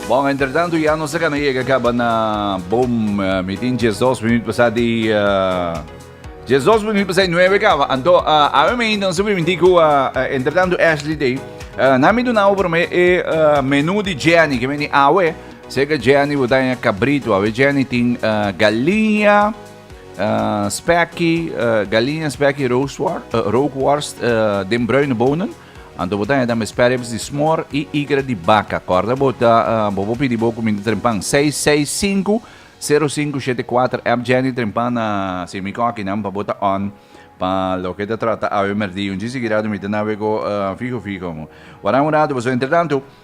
Bon, entretanto ya nos acá llega acaba na boom eh, meeting 12 minutos pasado di uh, 12 minutos pasado 9 acaba. Anto uh, ave me ainda sobre mentir que uh, entretanto Ashley day. Uh, na mi do na over me e uh, menu di Jenny que meni awe. Sei que Jenny botar em cabrito, ave Jenny tem uh, galinha, uh, spekkie, uh, galinha spekkie rookworst, uh, rookworst uh, den bruine bonen. Anto bo ta heda mi spareribs di smor y igra di baca. Corda bo ta bo bo pidi bo cuminda trempan. 665 0574 app Jenny trempan na si mi coki nan pa bo ta on pa loke ta trata awe merdi. Un djis di girado mi ta nawe go fijo fijo. Wara un rato boso. Entretanto.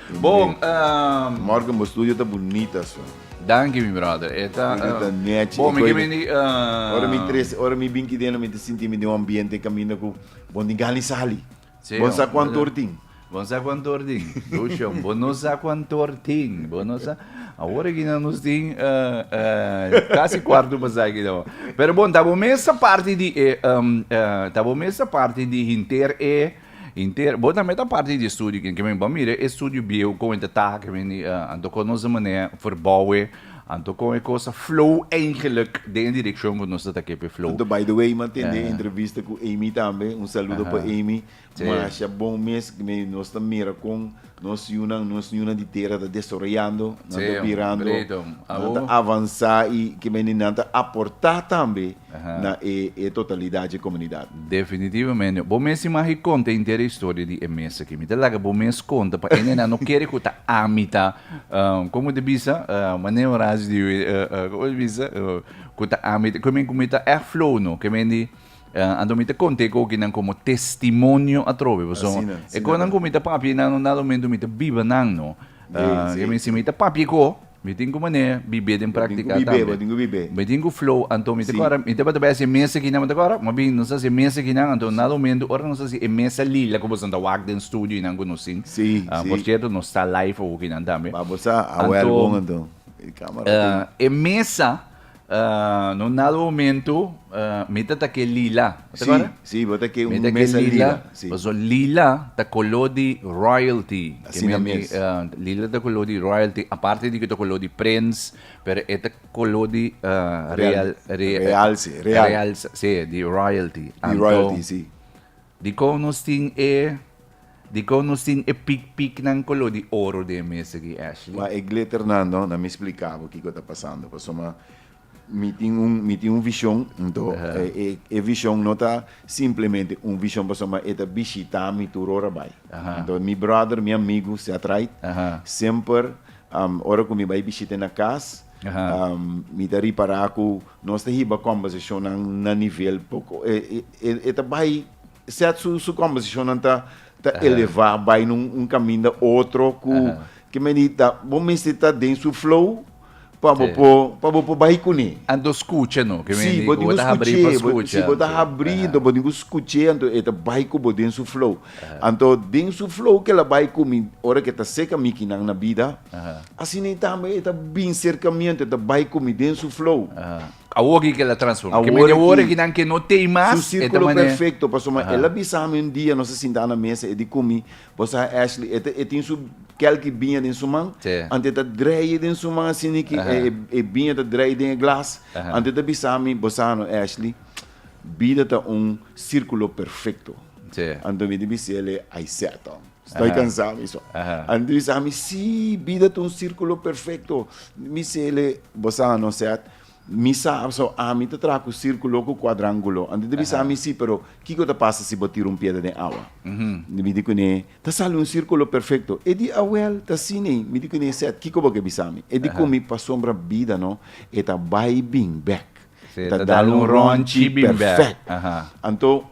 Bon ehm. Morgan bo studio ta bunita so. Danki mi brother e ta bon mi kimin di Ora mi tres ora mi bin kideno mi ta sinti mi den un ambiente kaminda ku bon tin gana di sali bon sa kuantu or tin bon sa kuantu or tin Lucion bo no sa kuantu or tin bo no sa awor aki nan nos tin kasi kuartu pa sa aki nan pero bon ta bo mester parti di ta bo mester parti di hinter e Inter. Bo tambe ta parti di e studio ki ke men bo mire e studio bieu kon e ta taha ke men di anto kon nos manera verboue anto kon e kosa flow eigenlik den e direkshon ku nos ta ta ke pe flow. Anto by the way m'a tende e entrevista ku Amy tambe un saludo pa Amy masha bon mes nos ta mira kon Nos yunan, nos niñonan di tera ta desoroyando, nan ta birando, nan ta avansá i ke mende nan ta aportá tambe na e e totalidat dje komunidat. Definitivamente. Bo mes tin magi konta inter e historia di e mes aki. Mi ta laga bo mes konta pa e nenan no kere ku ta ami ta komo ta bisa Mane Horacio di komo ta bisa ku ta ami ta ku mi ta èk flow no ke men di. Ah, anto mi ta conte e cokinan como testimonio atrobe, paso Asina, e asina conan ta. cu mi ta papia einan no nada momento mi ta biba nan, no. Sí, Ah, sí, kemi si sí. mi ta papia e co, mi tin cu mané bibé den Bo tin cu practica bibé, bo tambe. tin cu bibé. Mi tin cu flow, anto mi ta Sí. cora, mi tabata bay haci mesa kinan, bo ta cora? Mas bien nos ta haci mesa kinan, anto nada momento ora nos ta haci e mesa lila cu boso ta wak den studio einan cu nos tin. Sí, Ah, sí. por cierto, nos ta live awo kinan tambe. Ba, bo sa, a Anto, welgon anto. E camera tin. ah, e mesa no nada momento mi ta ta ke lila ta kora si bo ta ke un mesa lila si paso lila ta kolo di royalty asina mes lila ta kolo di royalty aparte di ke ta kolo di prins pero e ta kolo di realse realse si di royalty anto di royalty si Dikon nos tin e Dikon nos tin e pik piknan koló di oro den mes aki, Ashley? Wak e glitternan no, na mi spliká bo kiko ta pasando. Pasobra mi tin un, mi tin un vishon, anto e, e vishon no ta simplemente un vishon pasobra e ta bishitá mi tur ora bai. Anto mi bròder, mi amigu Seth Wright, semper ora ku mi bai bishit'é na kas, Mi ta ripará ku nos ta hiba kòmbèrsashonnan na nivel poko, e e e ta bai Seth su su kòmbèrsashonnan ta ta elevá bai na un kaminda otro ku ke men di ta bo mester ta den su flow pa bo por pa bo por bai kuné. Anto skucha no, ke men di bo ta habrí pa skucha. Si bo ta habrí, bo tin ku skuch'é anto e ta bai ku bo den su flow. Anto den su flow ke el a bai ku mi ora ke ta seka mikinan na bida, asina tambe e ta bin serkamiento, e ta bai ku mi den su flow. Awor ke el a transforma. Ke mende ora ke nan ke no tei mas, e ta manera. Su sirkulo perfekto, pasobra ma el a bisa mi un dia nos a sinta na mesa e di ku mi, Bo sa Ashley, e ta e tin su kèlki biña den su man, anto e ta dreie den su man asina ki e biña ta dreie den e glas, anto e ta bisa mi, Bo sa no Ashley, Bida ta un sirkulo perfekto. Anto mi dibi si el e aisèta. Stoi kansá mi so. Anto mi sa mi sí, bida ta un sirkulo perfekto. Mi si el e, bo sa no sèt? Mi sa so ami ta traha ku sirkulo ku kuadranguló. Anto mi dibi sa mi sí, pero kiko ta pasa si bo tira un piedra den awa? Mi di kuné, ta sali un sirkulo perfekto. E di awèl ta asina ei. Mi di kuné, sèt, kiko bo ke bisa mi? E di ku mi, pasobra bida no e ta bai i bin bèk. Se ta dal un ronchi bin bèk. Anto,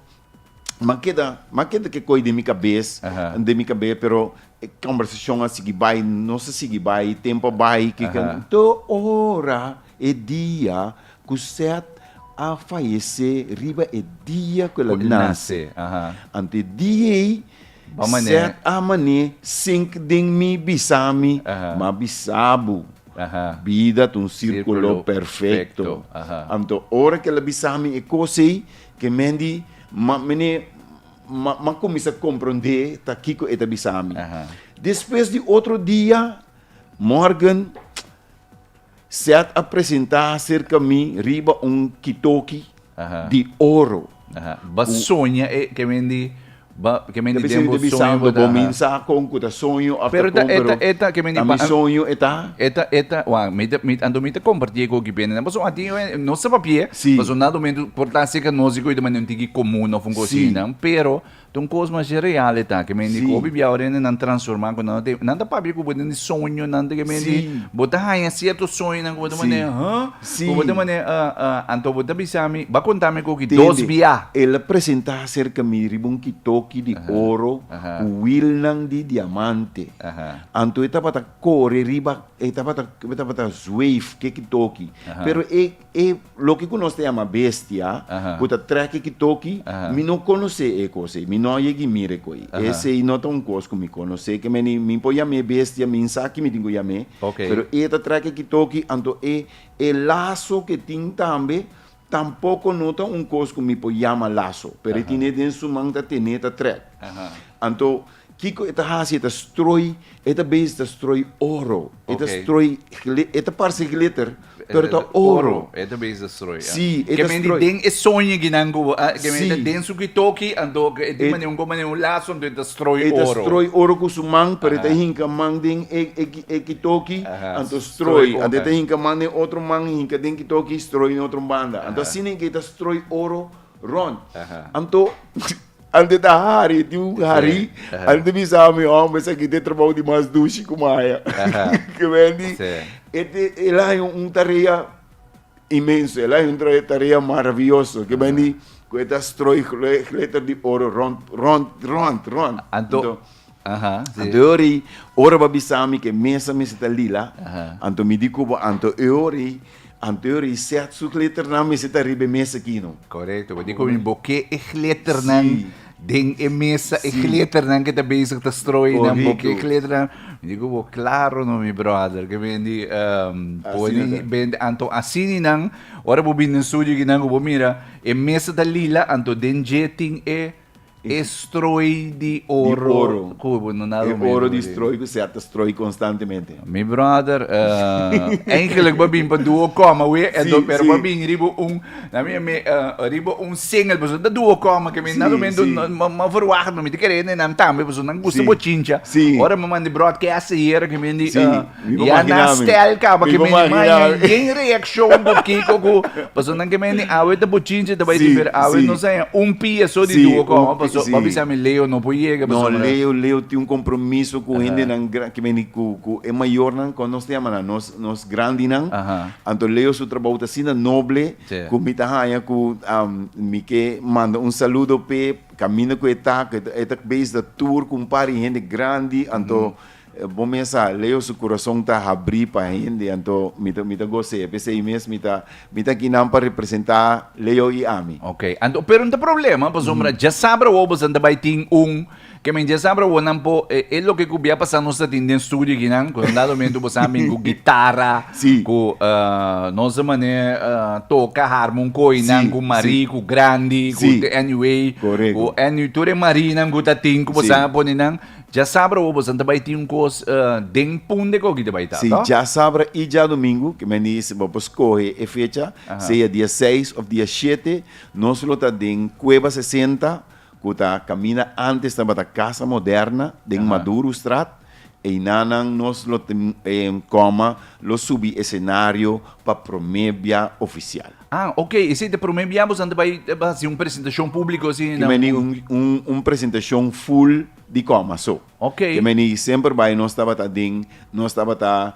m'a keda, m'a keda ke koi den mi kabes, den mi kabes, pero e kòmbersashon a sigui bai, nos a sigui bai, e tempu a bai, ke ke. Te ora e dia ku Sèt a fayesé, riba e dia ku el a nase, anto e dia ei, Bon mané. Sèt a mané, sink den mi bisa mi, Aha. m'a bisa bo. Aha. Bida ta un sírkulo Sírkulo perfekto. perfekto. Aha. Anto ora k'el a bisa mi e kos ei, ke men di, m'a mané, m'a m'a kuminsá komprondé ta kiko e ta bisa mi. Aha. Despues di otro dia, Morgan, Seth a presenta aserka mi riba un kitoki di oro. Bo soña e ke men di den bo soño bo ta. Pero eta ke men di pa anto mi ta komparti e koki bende nan paso a tin no sa papia paso nan ato mentu por ta aserka nos di koe ta manera un tiki komun of un kos asina pero. Ta un kos masha real e ta, ke men di ku hopi bia ora e nan transformá ku nan no tin, nan ta papia ku bo den di soñonan te ke men di bo ta haña sierto soñonan ku bo ta manera hë? Ku bo ta manera ë ë, anto bo ta bisa mi, bo a konta mi ku ki dos bia. El a presentá serka mi riba un kitoki di oro ku wilnan di diamante, anto e tabata kore riba, e tabata zweif ke kitoki, pero e. E loke ku nos ta yama bestia ku ta trèk e ki toki, mi no konosé e kos ei, mi no a yega i mira e kos ei. Esei no ta un kos ku mi konosé, ke mene mi por yam'é e bestia, mi sa ki mi tin ku yam'é, pero e ta trèk e ki toki, anto e laso ke tin tambe tampoko no ta un kos ku mi por yama laso, pero e tine den su man ta tene ta trèk. Anto Kiko e ta hasi? E ta strooi, e ta bes ta strooi oro. E ta strooi gli, e ta parse glitter, pero ta oro. E ta bes ta strooi, ya. Sí, e ta strooi. Kemi di den e soñegi nan ku, a, kemi di den su kitoki, anto e di manera, un ku manera, un laso, anto e ta strooi oro. E ta strooi oro ku su man, pero e ta hinka man den e, e, e kitoki, anto strooi. Anto e ta hinka man den otro man, e hinka den kitoki, strooi den otro banda. Anto asina ke e ta strooi oro rond. Anto. Antes ta hari tin un hari antes ta bisa mi hombre esaki ta trabao di mas dushi ku maya comprende e te el a haña un tarea inmenso el a haña un tarea maraviyoso comprende ku e ta stroy gletter di oro rond rond rond rond anto anto e ora i ora bo a bisa mi ku e mesa mester ta lila anto mi di kuba anto e ora i Anterior i set su gletternan mester ta riba e mes aki no. Correcto, pasobra cu mi bo ke e gletternan den e mesa, e gletternan ke ta bezig ta strooi nan, bo ke e gletternan, mi di cu bo claro no mi brother, ke mi di pone bende, anto asini nan, ora bo bini den studio aki nan cu bo mira e mesa ta lila, anto den dje tin e. E strooi di oro ku bo no nado mero. E oro di strooi ku sèta strooi konstantemente. Mi brother, eh, eigenlik bo bin pa duo kòma we, e do pero bo bin riba un, na mi mi riba un singel, pasobra ta duo kòma ke mi nado mero mi verwacht, mi ta kere nan tambe, pasobra nan gusta bo chincha. Ora mi manda e bròt, ke hasta yera ke mi di. Ya na stèl kaba ke mene maña yen reakshon ku kiko ku paso nan ke mene awe ta buchinchi ta bai di pero awe no saña un pia so di duo kòm paso bo a bisa mi Leo no por yega paso mi Leo Leo tin un kompromiso ku hendenan gran ke mene ku ku e mayornan kon nos ta yama nan nos nos grandinan anto Leo su trabou ta asina noble ku mi ta haña ku mi ke manda un saludo p'e kaminda ku e ta e ta beis da tur ku un par di hende grandi anto Bo mes sa, Leo su kurason ta habrí pa hende, anto mi ta mi ta gos'é. P'esei mes mi ta mi ta aki nan pa representá Leo i ami. Oke, anto pero no ta problema, pasobra djasabra awor boso ta bai tin un, ke men djasabra awor nan por e e loke ku bia pasá nos ta tin den studio aki nan, ku un dado momento boso a bin ku gitara, ku e nos a manera e toka harmonkoy nan ku marí, ku grandi, ku te anyway, ku any tur e marí nan ku ta tin ku boso a pone nan. Djasabra awo bosan ta bai tin un kos den punde koki ta bai ta Si, to? djasabra i djadumingu, ke mi a dici bo por scohe e fecha, Aha. sea dia seis of dia shete, nos lo ta den Cueva sesenta, cu ta camina antes tabata Casa Moderna, den Aha. Madurostraat, eynan nan nos lo tin, coma, lo subi escenario pa prome bia oficial. Ah, ok, esei ta e prome bia boso ta bai haci un presentacion publico así na. Tin meni un un un presentacion full di coma so. Ok. Tin meni semper bai nos tabata den nos tabata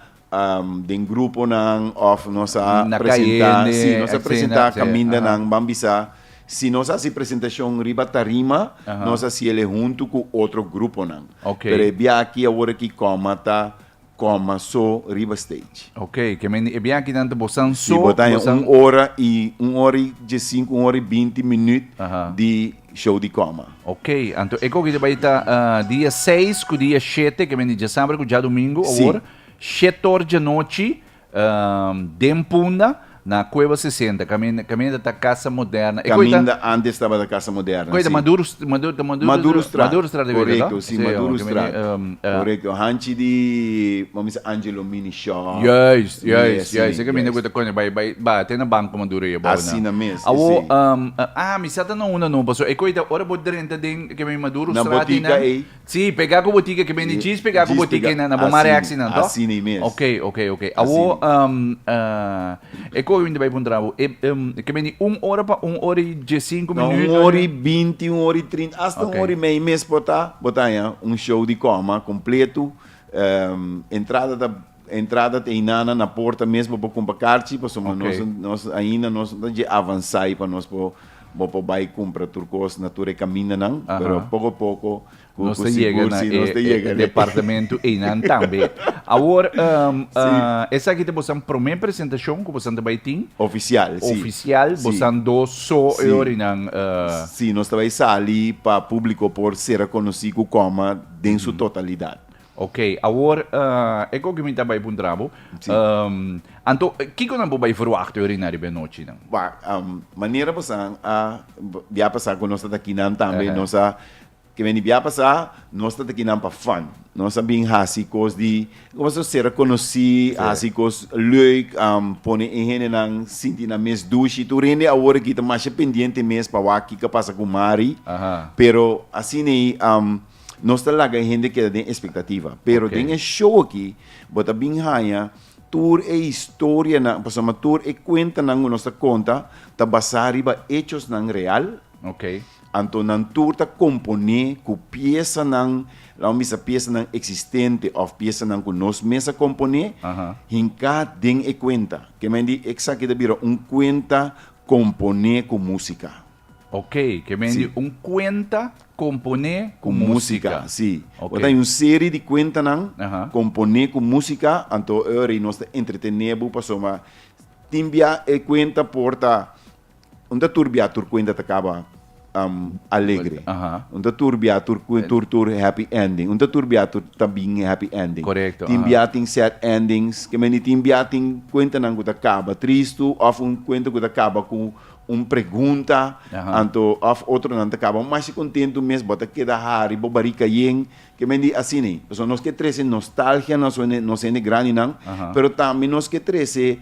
den gruponan of nos a Na presenta cayende, si nos a escena, presenta si, caminda aha. nan ban bisa si nos haci presentacion riba tarima Aha. nos haci el e hunto cu otro gruponan. Ok. Pero e biachi aworaki coma ta coma so riba stage. Ok, ke men di e biaha kinan ta bosan so. Si bo ta haña un ora i un ora i diesinku, un ora i binti minüt di show di coma. Ok, anto e kokido bai ta dia seis ku dia shete, ke men di djasambre ku djadumingu awor, shet tor djanochi. Den Punda, na Cueva sesenta, camin, caminda ta Casa Moderna. E coi ta? Caminda antes tabata Casa Moderna, si. Coi ta? Maduro, Maduro, ta Maduro. Madurostraat. Madurostraat e bira, no? Corecto, si, Madurostraat. Corecto, hanchi di, bo mester Angelo Mini Shop. Juist, juist, juist. E caminda cu ta cono, bay, bay, ba te na Banco Maduro e abao na. Asina mes, e si. Awo, ah, mi sa ta na unda no, pasobra e coi ta, ora bo drenta den, ke men, Madurostraat. Na botica ei. Sí, pega ku bo tike ke bende djis pega ku bo tike na bo mare aksi nan to. Ok, ok, ok. Awo e kòk mi ta bai puntra bo, e ke bende un ora pa un ora i diesinku minüt? No, un ora i binti, un ora i trinta, asta un ora i mei mes por ta. Bo ta haña un show di kòma kompletu. Entrada ta Entrada ta hinana na porta mesbo bo cumpra carchi pasobra nos nos ainda nos no ta dje avansai pa nos por bo por bai cumpra tur cos na tur e camindanan pero poco a poco cu cu sigur si nos ta yega na e departamento einan tambe. Awor esaki ta bosan prome presentacion cu bosan ta bai tin? Oficial si Oficial bosan dos so e orinan? Si nos ta bai sali pa publico por cera conoci Cucoma den su totalidad. Ok, awor e koke mi ta bai puntra bo, anto kiko nan bo bai verwachta yori na riba e nochi nan? Wak, manera bo sa a bia pasa ku nos ta ta kinan tambe, nos a ke men di bia pasa, nos ta ta kinan pa fun, nos a bin hasi kos di kua so sera konosí, hasi kos leuk, pone e hendenan sinti nan mes dushi, tur hende awor aki ta masha pendiente mes pa wak kiko a pasa ku Mari, pero asina ei. Nos ta laga e hende keda den espektativa. Pero den e show aki, bo ta bin haña tur e historianan, pasobra tur e kuentanan ku nos ta konta ta basá riba echosnan real. Anto nan tur ta komponé ku piesanan, laga mi bisa piesanan eksistente òf piesanan ku nos mes a komponé, hinká den e kuenta. Ke men di, eksaki ta bira un kuenta komponé ku músika. Ok, ke men di un kuenta komponé ku músika. Sí. Bo ta un seri di kuentanan komponé ku músika, anto oe nos ta entretené bo pasobra ma tin bia e kuenta por ta no ta tur bia tur kuenta ta kaba alegre. No ta tur bia tur tur tur happy ending. No ta tur bia tur ta bin happy ending. Tin bia tin sad endings. Ke men di tin bia tin kuentanan ku ta kaba tristu òf un kuenta ku ta kaba ku. un pregunta anto of otronan ta caba bo masha contento mes bo ta keda hari bo bari cayen ke men di asi ne pasobra nos ke trece nostalgia nos hende nos hende grandi nan pero tambe nos ke trece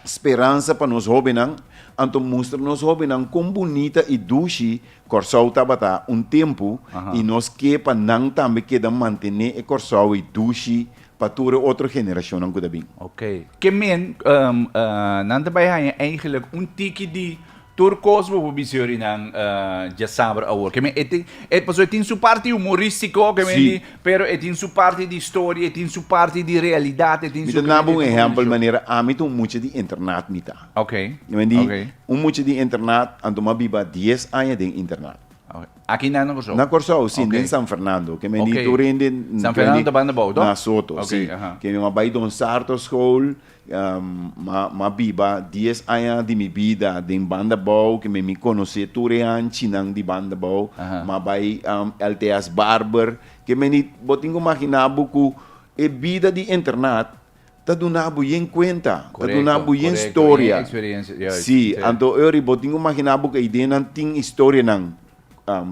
speransa pa nos hobennan anto mustra nos hobennan con bunita y dushi Kòrsou tabata un tempo y nos ke pa nan tambe keda mantene e Kòrsou e dushi. pa tur e otro generashonnan ku ta bin. Ok. Ke men nan ta bai haña eigelijk un tiki di tur kos bo por bisa yo'ri nan dja saber awor. Ke men e tin e paso e tin su parti humoristiko ke men di Sí. pero e tin su parti di historia, e tin su parti di realidat, e tin Mi su ta duna bo un kreditu ehèmpel kombinashon. manera ami ta un mucha di internat mi ta. Ok. Mi di Ok. un mucha di internat anto mi a biba dies aña den internat. Aki nan na Kòrsou? Na Kòrsou, si. Den San Fernando. Ke men di tur hende. San Fernando ta banda bou, to? Na Soto, si. Ke mi a bai Don Sarto School. Mi a biba dies aña di mi bida den banda bou. Ke men mi konosé tur e hanchinan di banda bou. Mi a bai Alteas Barber. Ke men di, bo tin ku maginá bo ku e bida di internat Ta duna bo yen cuenta. Ta duna bo yen storia. Si, anto Eury, bo tin cu magina bo cu e ideanan tin historianan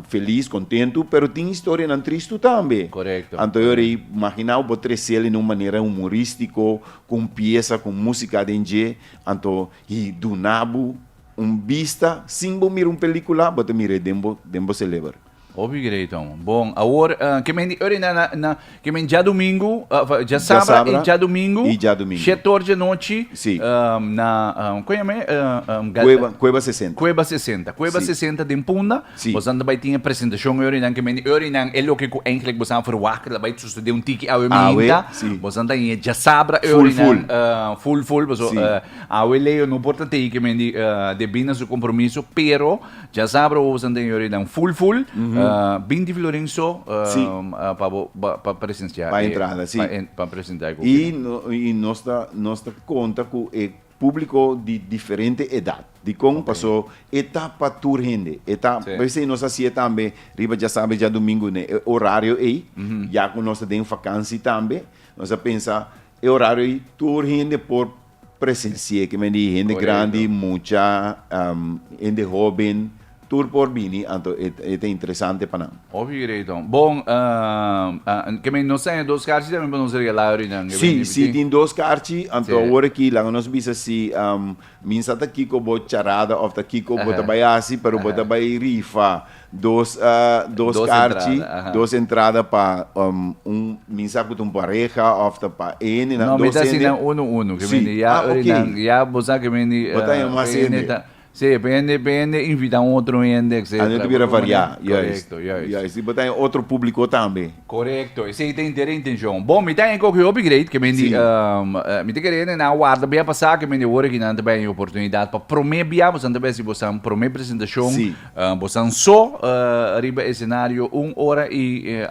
feliz, contentu, pero tin historianan tristu tambe. Anto Eury, magina bo bo trece'l den un manera humoristico, cu un pieza, cu un musica aden dje, anto y duna bo un bista, sin bo mira un pelicula, bo ta mir'e den bo celeber. Hopi great hom. Bon, awor ke men di ori na na na ke men dja domingo, of dja Dja sabra i sabra dja domingo, i dja domingo. shet or dje nochi, Si. um, na um, kon yama e? Uh, um, gal- Kueba, Kueba 60. Kueba 60. Kueba Si. 60 den Punda. Si. Bosan ta bai tin e presentashon e orinan ke men di orinan e loke ku eindelijk bosan a ferwagt ke ta bai susede un tiki awe Awe, minta. si. Bosan ta hine dja sabra e Full, orinan full. uh, full full paso Si. uh, awe Leo no por ta tei ke men di uh, debí na su kompromiso pero Dja sabra bo bo san den yorinan ful ful binti florin so pa bo pa presensia pa entrada si pa presenta e kofina y nos ta nos ta konta ku e publiko di diferente edat dikon paso e ta pa tur hende e ta p'esei nos hasia tambe riba dja sabra y dja domingu ne e orario ei ya ku nos ta den vakansi tambe nos a pensa E horario ei tur hende por presensi'é, kimen di hende grandi, mucha, hende hóben, tur por bini anto e e ta interesante pa nan. Oke greito. Bon, kimen nos ta hende dos karchi tambe pa nos regalá ahorinan. Si, si tin dos karchi, anto awor aki laga nos bisa si Min sa ta kiko bo charada of ta kiko bo ta bai hasi pero bo ta bai rifa dos dos karchi dos entrada pa un min sa ku ta un pareha of ta pa ene nan dos hende. No mi ta si nan uno uno ke mi ya ori nan ya bo sa ke mi di bo ta yama mas hende ta si bo hende bo hende invita otro hende etcetera. Anu ta bira variá juist juist si bo ta otro publico tambe. Korekto, esei ta inter e intenshon. Bon, mi ta hende ku oko hopi greit, ke men di, mi ta kere hende nan a warda bia pa sa ke men di awor aki nan ta bai e oportunidat pa promé bia bosan ta bai si bosan promé presentashon, bosan so riba esenario un ora i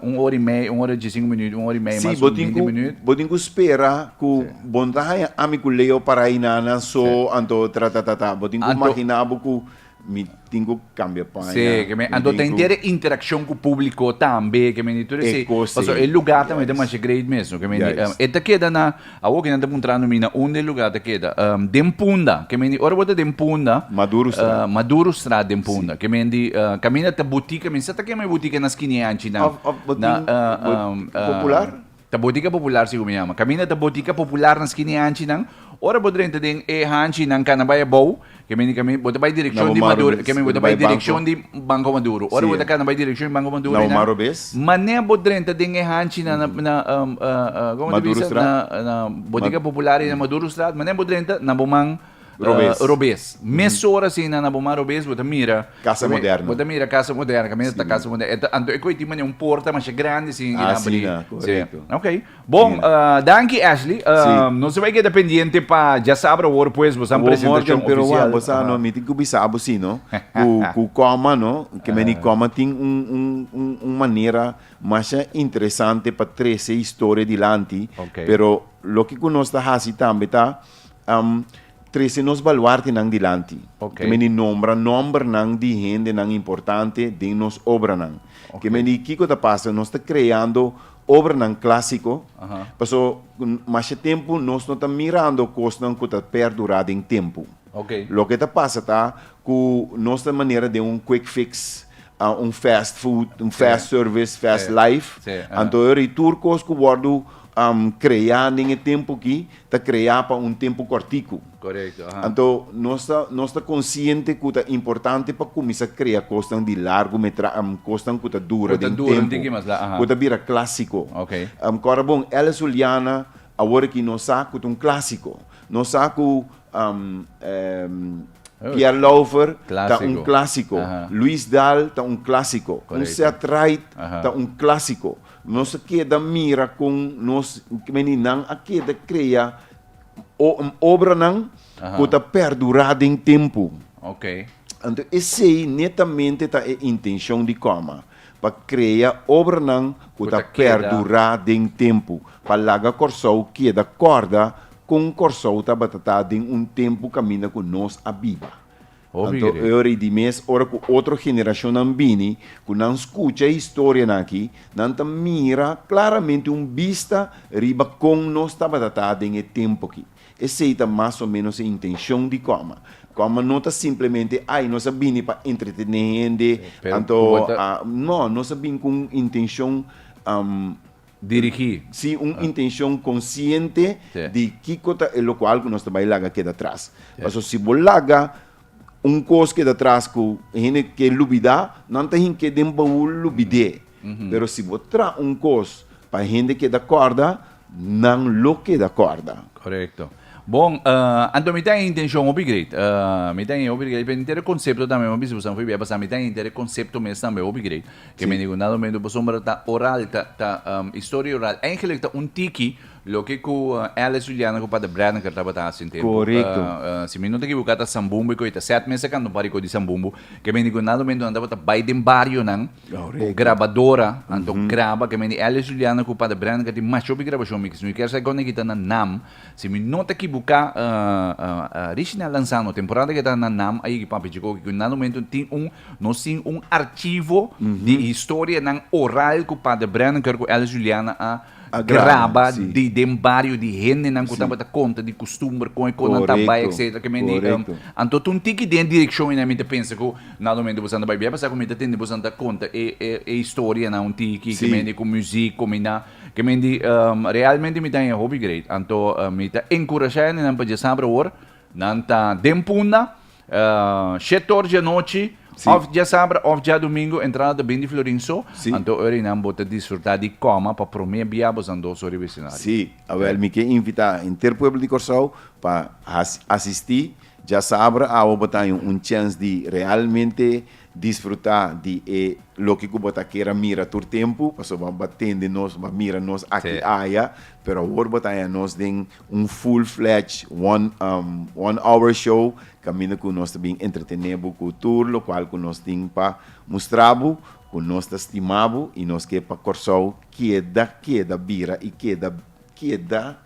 un ora i mei, un ora i diesinku minüt, un ora i mei mas un binti minüt. Bo tin ku spera ku bo no ta haña ami ku Leo para ayina nan so anto tratatata. Bo tin ku maginá bo ku Mi tin cu cambia paña. Sí, que me ando ten ter interacción cu publico tambe, que me di tur ese. Paso el lugar tambe ta masha great mesmo, que me di e ta keda na awo kinan ta puntrando mi na unda e lugar ta keda. Den punda, que me di ora bo ta den punda. Madurostraat. Madurostraat den punda, que me di caminda ta boutique, men sa ta kema e boutique na skinea anchi nan. Of of bo tin popular? Ta botica popular si cu mi yama. Caminda ta botica popular na skini hanchi nan. Ora bo drenta den e hanchi nan cana bay abao, que mi nica mi, bo ta bay direccion di Maduro, que mi bo ta bay direccion di Banco Maduro. Ora bo ta cana bay direccion di Banco Maduro y nan, mane bo drenta den e hanchi nan na, na, como ta bisa? Na, na botica popular y na Madurostraat, mane bo drenta, na bo man. Robes. Robes. Mesora asina na Bomar Robes bo ta mira. Casa moderno. Bo ta mira casa moderno, caminda ta casa moderno. Anto e coi tin bani un porta masha grandi asina di abri. Asina, correcto. Ok. Bon, danki Ashley. Si. Nos a bai keda pendiente pa djasabra awor pues bo sa un presentacion oficial. Pero wak, bo sa no, mi tin cu bisa abo si no, cu, cu coma no, ke meni coma tin un, un, un, un manera masha interesante pa trece historia dilanti. Ok. Pero loke cu nos ta haci tambe ta. Am trese nos baluartenan dilanti. Ok. Ke meni nombra nòmbernan di hendenan importante den nos obranan. Ok. Ke meni kiko ta pasa, nos ta kreando obranan klásiko, Aha. paso n- masha tempu nos no ta mirando kosnan ku ta pèrdurá den tempu. Ok. Loke ta pasa ta ku nos ta manera den un quick fix, a un fast food, un Sí. fast service, fast Sí. life. Sí, aha. Anto yori tur kos ku wòrdu Creá den e tempu ki ta creá pa un tempu corticu. Anto nos ta consciente cu ta importante pa cuminsa crea cosnan di largu metra, cosnan cu ta dura den tempu, cu ta bira clasico. Cora bon, Alice Juliana awor aki nos sa cu ta un clasico. Nos sa cu Pierre Laufer ta un clasico, Louis Daal ta un clasico, un Seth Wright ta un clasico. Nos a keda mira con nos meninan a keda crea obranan cu ta perdura den tempo. Anto esey netamente ta e intencion di Coma, pa crea obranan cu ta perdura den tempo, pa laga Corsou keda corda con Corsou tabatata den un tempo caminda cu nos a biba. Hopi Anto e ora i di mes ora ku otro generashonnan bini, ku nan skucha e historianan aki, nan ta mira klaramente un bista riba kon nos tabata ta den e tempu aki. Esei ta mas o ménos e intenshon di Kòma. Kòma no ta simplemente, ai, nos a bini pa entretené hende, anto, a, no, nos a bin ku un intenshon, am. dirigí. Sí, un intenshon konsiente di kiko ta e lokual ku nos ta bai laga keda tras. Paso si bo laga un kos keda tras ku hende ke lubidá, nan ta hink'é den baul lubid'é. Pero si bo traha un kos pa hende keda kòrda, nan lo keda kòrda. Korekto. Bon, anto mi ta e intenshon hopi great. Mi ta e hopi great. Pero mi ta e konsepto tambe. Mi a bisa kusnan fo'i bia pasá. Mi ta e inter e konsepto mes tambe hopi great. Ke mi digu na Domingo Bo Sombra ta oral, ta ta historia oral. Eigenlik ta un tiki loke ku Alice Juliana ku Pater Braniker tabata hasi un tempu. Si mi no ta ekiboká ta Sambumbu ku e ta sèt mes akan Don Rico di Sambumbu. Ke mi digu na Domingo nan tabata bai den barionan ku grabadora anto graba. Ke mi di Alice Juliana ku Pater Braniker tin masha hopi grabashon mi kiss. Mi kèr sa kon e kita nan nam. Si mi no ta ekiboká Richinel Lanzano temporada ke ta nan nam a yegi Papi Chico. Kiko na Domingo tin un Nos tin un archivo di historianan oral cu Pader Breniker cu Alice Juliana a graba di den bario di hendenan cu tabata conta di custumber, con e con nan ta bay etc. Ke men di anto ta un tiki den e direccion ene mi ta pensa cu na momento boso a bay bia pasaki mi ta tende boso ta conta e e historianan un tiki ke men di cu muziek combina ke men di realmente mi ta hen hopi great anto mi ta encouraja hendenan pa dje sabra awor nan ta den punda Shett or dje nochi of dja sabra of dja domingo entrada ta bin di florin so anto ora inan bo ta disfruta di coma pa prome bia bosan dos ora vecinario. Si, awel mi ke invita enter pueblo di Corsou pa asisti dja sabra awa bo ta haña un chens di realmente disfruta di e loke ku bo ta ker a mira tur tempu pasobra bo a tende nos bo a mira nos aki aya pero awor bo ta haña nos den Un full fledge one one hour show caminda cu nos ta bin entretene bo cu tur locual cu nos tin pa mustra bo cu nos ta stima bo y nos ke pa Corsou keda keda bira y keda keda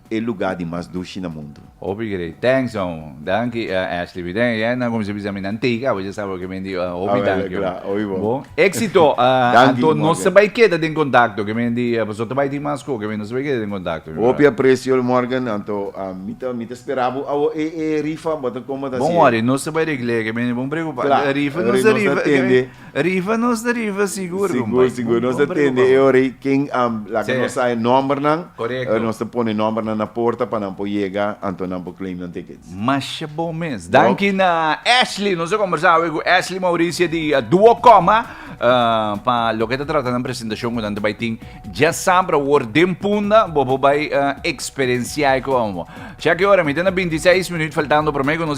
e lugar di mas dushi na mundo. Hopi grei. Thanks man. Danki Ashley Biden e nan cuminsa bisa mi nan tega abo ya sa awor ke mi di hopi danki bo exito anto nos ta bay keda den contacto ke mi di pasobra ta bay tin mas sco ke mi nos ta bay keda den contacto mi bra hopi aprecio Morgan anto mi ta mi ta spera bo awor e e rifa bo ta como ta haci bon worry nos ta bay regla e ke mi di bon preocupa rifa nos ta rifa Riba nos ta riba sigur compay. Sigur sigur nos ta tende e ora ei ken a laga nos sa e nombernan. Corecto. Nos ta pone e nombernan na porta pa nan por yega anto nan por claim nan tickets. Masha bon mes. Danki na Ashley. Nos a combersa awe cu Ashley Mauricia di Duo Coma pa loke ta trata nan presentacion cu nan ta bay tin. Ya sabra awor den punda bo por bay experienciae cu amo. Sha ki ora mi ta na binti seis minuut faltando prome cu nos.